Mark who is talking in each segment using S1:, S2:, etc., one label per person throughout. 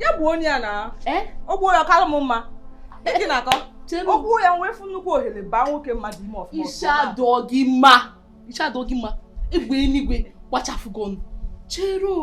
S1: ya gbuo onye ya na eh? ọ gbuo ya ọ kara m mma gị na-akọ ọ gbuo ya wee fụ nnukwu ohere baa nwoke mmadụ ime ọfụma isi adọ gị mma isi adọ gị mma egbe eluigwe gbachafụ gị ọnụ chere o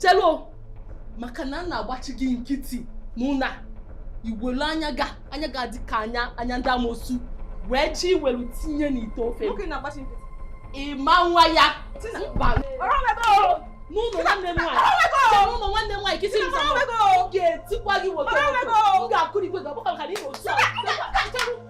S1: chelo maka na m na-agbachi gị nkịtị mụ na iwelu anya gị a anya gị a dị ka anya anya ndị amosu wee chi welu tinye n'ite ofe ị ma-anwa ya n'ụlọ nwanne m nwaanyị n'ụlọ nwanne m nwaanyị kịta m ga-etikwa gị nwoke m ga-akụrikwe gị ọgbakọ ka na ịnwe otu a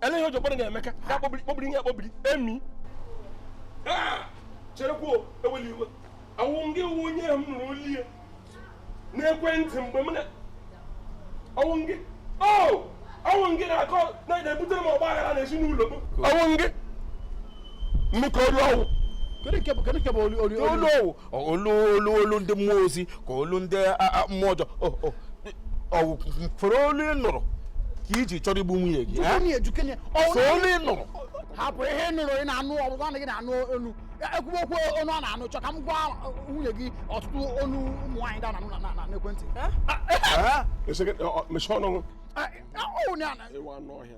S2: ele ihe ojokpọrọ na emeka ga-akpọbiri kpọbiri gị akpọbiri emi cherekwa eweli iwe ọwụ gị wụ onye m nụrụ olu ya n'ekwentị mgbe m na ọwụ gị o ọwụ gị na-akọ na-ebutere m ọgba aghara n'ezinụlọ m ọwụ gị mmekọ olu ọwụ kedu nke bụ kedu nke bụ olu olu olu ọwụ olu olu olu ndị mmụọ ozi ka olu ndị mmụọ ọjọọ fere olu ị nụrụ ka i ji chọrọ igbu nwunye gị so olu ị nụrụ hapụ ihe nụrụ ị na-anụ ọ bụ naanị gị na-anụ olu ekwuwe okwu onu a na-anụ chọ ka m gwa nwunye gị ọtụtụ onu ụmụ nwaanyị ndị a na-anụ na n'ekwentị mechie ọnụ ọnụ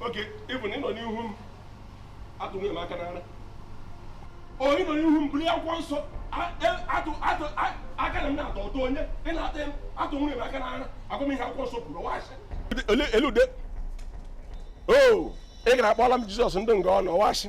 S2: okay even ị nọ n'ihu m atụ nwunye m aka n'ara onye nọ n'ihu m buru ya akwụkwọ nsọ aka na m na-atọ ụtọ onye ị na-ata m atụ nwunye m aka n'ara agwa m ihe akwụkwọ nsọ kwuru waasị elude o ị gara akpọla m jizọs ndị nga ọ na ọwashi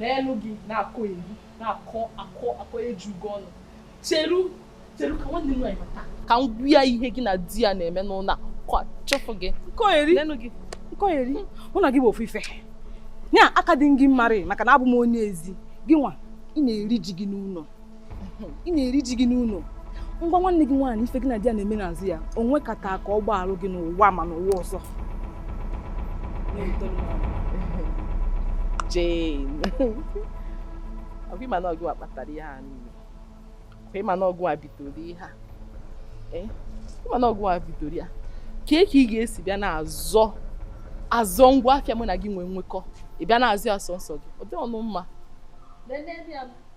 S1: nenụ gị na-akọgheri na-akọ akọ akọ eju gị ọnụ cheru cheru ka nwanne m nwaanyị nata ka m gwa ya ihe gị na di ya na-eme n'ụlọ a ka ọ chụfụ gị nkọgheri nkọgheri mụ na gị bụ ofu ife ya aka dị gị mmarị maka na abụ m onye ezi gị nwa ị na-eri ji gị n'ụlọ ị na-eri ji gị n'ụlọ m gwa nwanne gị nwaanyị ife gị na di ya na-eme n'azụ ya o nwekata ka ọ gbaalụ gị n'ụwa ma n'ụwa ọzọ Jane ọ bụ ịma na ọ gị nwa kpatara ihe a niile kwa ịma na ọ gị nwa bidoro ihe a eh? ịma na ọ gị nwa bidoro ya kee ka ị ga-esi bịa na-azọ azọ ngwa afịa mụ na gị nwee nwekọ ị bịa na-azụ ya sọnsọ gị ọ dịrọnụ mma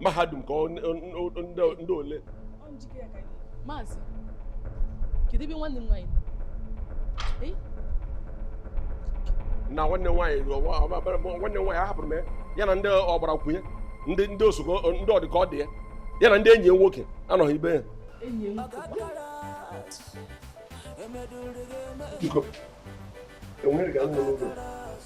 S3: mahadum ka ndị
S1: ole maazị kedu ebe nwanne m
S3: nwaanyị nọ nwanne nwaanyị nwanne nwaanyị ahapụrụ m ya na ndị ọgbara kwunye ndị ndị osogo ndị ọ dịka ọ dị ya ya na ndị enyi ya nwoke anọghị ibe ya biko enweghị ga-anọ n'ụlọ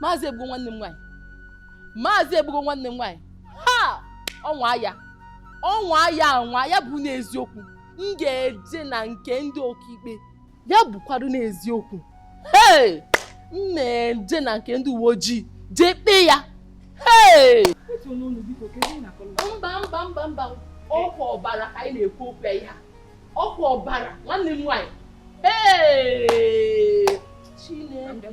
S1: maazị egbugo nwanne m nwaanyị maazị egbugo nwanne m nwaanyị ha ọ nwaa ya ọ nwaa ya anwa ya bụ n'eziokwu m ga-eje na nke ndị ọkaikpe ya bụkwarụ n'eziokwu ee m na-eje na nke ndị uwe ojii jee kpee ya ee mba mba mba mba ọkwa ọbara ka anyị na-ekwu okwu ya ọkwa ọbara nwanne m nwaanyị Chineke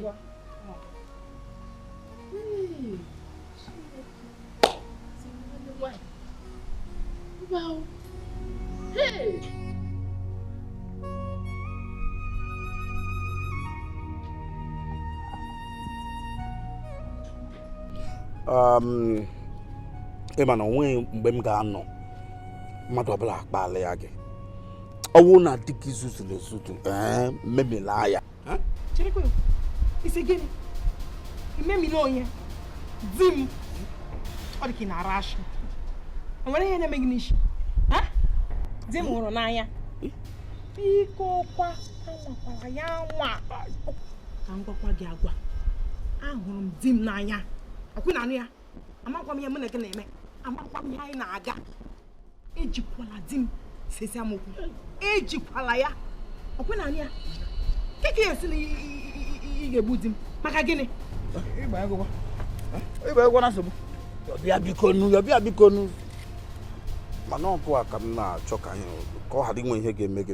S1: Wow. Hey!
S2: um, ị ma na o nweghị mgbe m ga-anọ mmadụ ọbụla akparịa gị ọ wụ na di gị zuzuru ezuzu ee memila ya
S4: cherekwa ị sị gịnị imemila onye di m ọ dị ka ị na-ara ashị o nwere ihe na-eme gị n'isi di m hụrụ n'anya biko kwa anwakwala ya anwa ka m gwakwa gị agwa ahụrụ m di m n'anya akwụ na anụ ya amakwa m ihe mụ na gị na-eme amakwa m ihe anyị na-aga ejikwala di m sesi ama okwu ejikwala ya ọkwa ị na-anụ ya kee ka ị ya-asị na ị ga-egbu di m maka
S2: gịnị ịgba egwọ na nsogbu ọbịa biko nu ọbịa biko nu mana ọ gụwa ka m na-achọ ka anyị ka ọ ghara inwe ihe ga-eme gị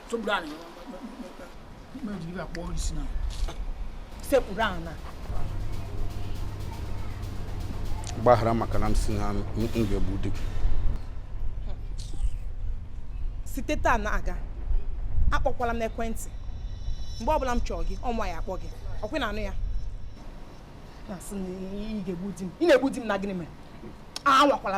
S4: sekpuru
S2: ala gbaghara maka na m si na m ga-egbu di gị
S4: site taa na-aga akpọkwala m n'ekwentị mgbe ọbụla m chọọ gị mụnwa ya-akpọ gị ọkwa ị na-anụ ya na-asị na ị ga-egbu di m ị na-egbu di m na gịnị mere anwakwala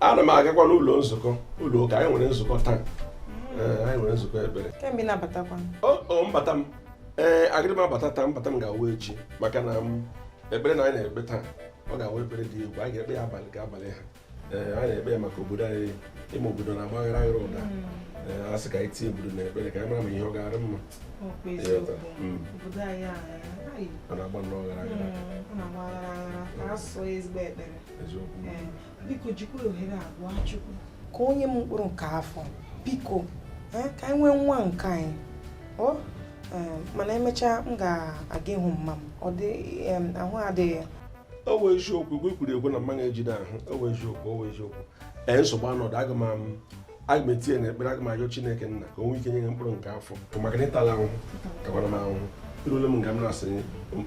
S3: ana m agakwa n'ụlọ nzukọ ụlọ ụka anyị nwere nzukọ taa anyị nwere nzukọ ebere
S4: mbata
S3: m ee agịrị m abata taa mbata m ga-awụ echi maka na ekpere na anyị na-ekpe taa ọ ga-awụ ekpere dị egwu anyị ga-ekpe ya abalị ga abalị a eh, a na-ekpe maka obodo anyị ime obodo na-agbaghara aghara ụda hmm. eh, a sị ka anyị tinye obodo na ekpere ka anyị mara ma ihe ọ ga-arị mma hmm. a na-agba
S4: nnọọ ghara aghara ka o nye m mkpụrụ nke afọ biko eh, ka anyị nwee nwa nke anyị oh, mana emechaa m ga-aga ịhụ mma m ọ dị ahụ adịghị ọ wụ
S3: eziokwu igwe kwuru ekwe na mmanụ ejide ahụ ọ wụ eziokwu ọ wụ eziokwu ee nsogbu adịghị aga m am- aga m etinye na ekpere aga m ayọ chineke nna ka o nwee ike nye gị mkpụrụ nke afọ maka na ị tala ahụhụ takwara m ahụhụ erule m nga m na-asị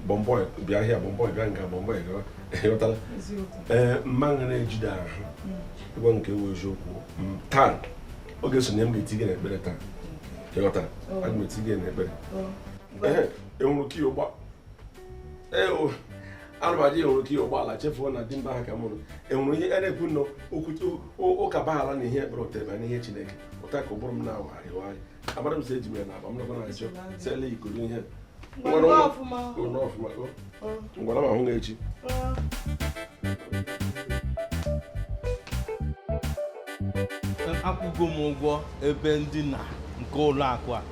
S3: bọmbọị bịa ahịa bọmbọị bịa nga bọmbọị gawa ị ghọtala ee mmanụ na-ejide ahụ ị gwa m nke wụ eziokwu m taa oge sonye m ga-eti gị na ekpere taa ị ghọtara aga m eti gị na ekpere Ehe, enwere ike ịgba anụmaji enwere ike ihe ụgbọala chefuo na di mba ha ka mụrụ enwere ihe a na-ekwu nọ ụka baghara na ihe ekpere otebe na ihe chineke ụta ka ụbụrụ m na-awagharị awagharị amara m sị eji m ya na aba m nakwa na achọ sele ikoro ihe m gwara ma hụ gị
S5: echi akwụgo m ụgwọ ebe ndina nke ụlọ akụ a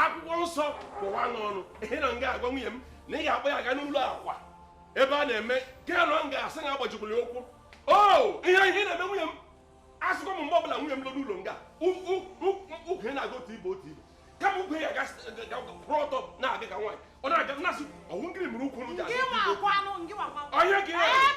S3: akwụkwọ nsọ kọwa n'ọnụ ihe na nga agwa nwunye m na ị ga-akpọ ya aga n'ụlọ akwa ebe a na-eme ka ya nọ m ga-asị na agbajikwuru ya ụkwụ o oh, ihe ihe na-eme nwunye m asịkwa m mgbe ọbụla nwunye m lọ n'ụlọ nga ukwu ya na-aga otu ibe otu ibe kama ukwu ya kwụrụ ọtọ na-aga ka nwaanyị ọ na-aga na-asị ọ wụ nkiri mụrụ ukwu m ji onye ka ya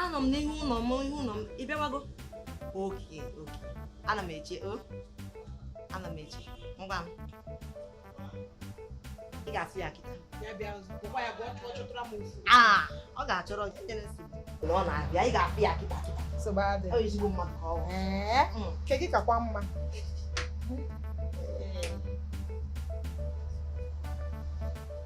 S6: anọ m n'ihu ụlọ m ihu ụlọ m ị bịawago okay okay ana m eche o ana m eche ngwa m ị ga-afụ ya kịta ah, ọ ga-achọrọ na ọ na-abịa ị ga-afụ ya kịta kịta ezigbo mmadụ ka ọ bụ. ke gị kakwa mma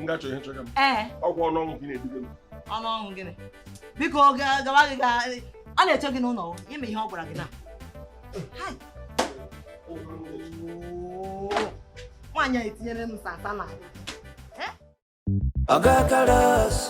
S6: m ga-achọ ihe
S3: chọga m ee ọ wụ ọnụ ọnwụ gị na-eduga m ọnụ ọnwụ
S6: gịnị biko ga- gawa gị ga ọ na-eche gị n'ụlọ ime ihe ọ gwara gị na Hai. Oo. nwaanyị a etinyere m sata na
S7: Oga Karas.